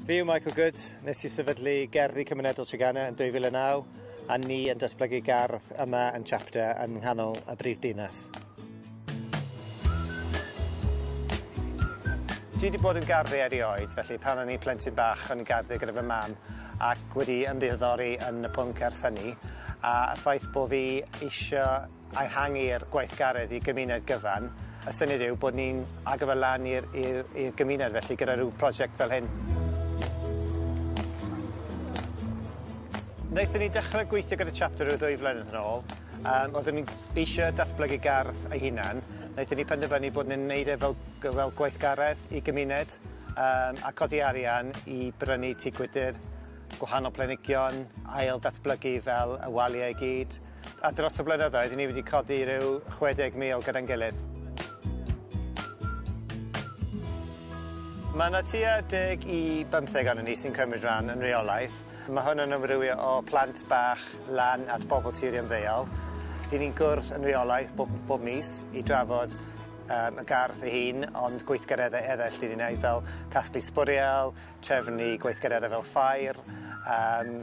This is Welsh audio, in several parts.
Fi yw Michael Good, nes i sefydlu Gerddi Cymunedol Treganna yn 2009 a ni yn datblygu gardd yma yn Chapter yn nghanol y brif dinas. Dwi wedi bod yn garddio erioed felly pan o'n i'n plentyn bach o'n i'n garddio gyda fy mam ac wedi ymddiddori yn y pwnc ers hynny a y ffaith bo fi eisio a ehangu'r gweithgaredd i gymuned gyfan, y syniad yw bod ni'n agor fe lan i'r i'r i'r gymuned felly gyda ryw prosiect fel hyn. Naethon ni dechre gweithio gyda chapter ryw ddwy flynedd yn ôl yym oeddwn ni'n eisio datblygu gardd ei hunan naethon ni penderfynu bod ni'n neud e fel g- fel gweithgaredd i gymuned yym a codi arian i brynu tŷ gwydyr gwahanol planhigion ail ddatblygu fel y walia i gyd. A dros y blynyddoedd, ni wedi codi rhyw 60,000 gyda'n gilydd. Mae 'na tua deg i bymtheg ohonon ni sy'n cymryd rhan yn reolaidd. Mae hwn yn amrywio o plant bach lan at bobl sirio'n ddeuol. Dyn ni'n gwrdd yn reolaidd bob m- bob mis i drafod yym y gardd ei hun, ond gweithgareddau eraill dyn ni'n neud fel casglu sbwriel, trefnu gweithgareddau fel ffair yym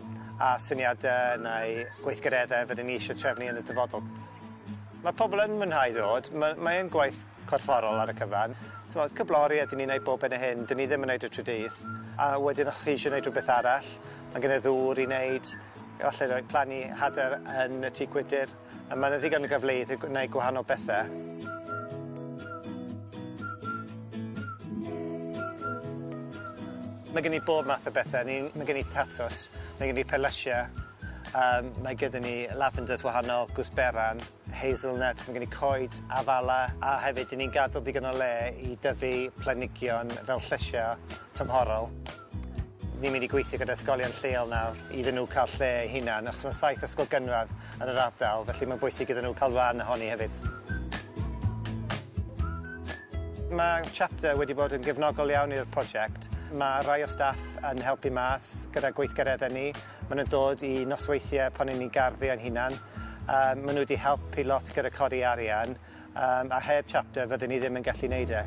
a syniadau neu gweithgareddau fydden ni eisiau trefnu yn y dyfodol. Mae pobl yn mwynhau dod, ma' mae e'n gwaith corfforol ar y cyfan, t'mod cyflori a 'dyn ni'n neud bob hyn a hyn, 'dyn ni ddim yn neud e trwy dydd, a wedyn os chi isie neud rhywbeth arall, ma' gen e ddŵr i neud, efallai roi plannu hade yn y tŷ gwydyr. A mae 'na ddigon o gyfleoedd i gwneud gwahanol bethe. Mae gen i bob math o bethe ni ma' gen i tatws mae gen i perlysie yym mae gyda ni lavenders wahanol gwsberan hazelnuts ma' gen i coed afala a hefyd 'dyn ni'n gadel digon o le i dyfu planhigion fel llysie tymhorol. Ni'n mynd i gweithio gyda ysgolion lleol nawr iddyn nhw cael lle eu hunan achos ma' saith ysgol gynradd yn yr ardal felly mae'n bwysig iddyn nhw cael ran ohoni hefyd. Ma' Chapter wedi bod yn gefnogol iawn i'r project. Ma' rai o staff yn helpu mas gyda gweithgareddau ni, ma' nhw'n dod i nosweithiau pan ry'n ni'n garddio ein hunan, yym ma' nhw wedi helpu lot gyda codi arian yym a heb Chapter fydden ni ddim yn gallu neud e.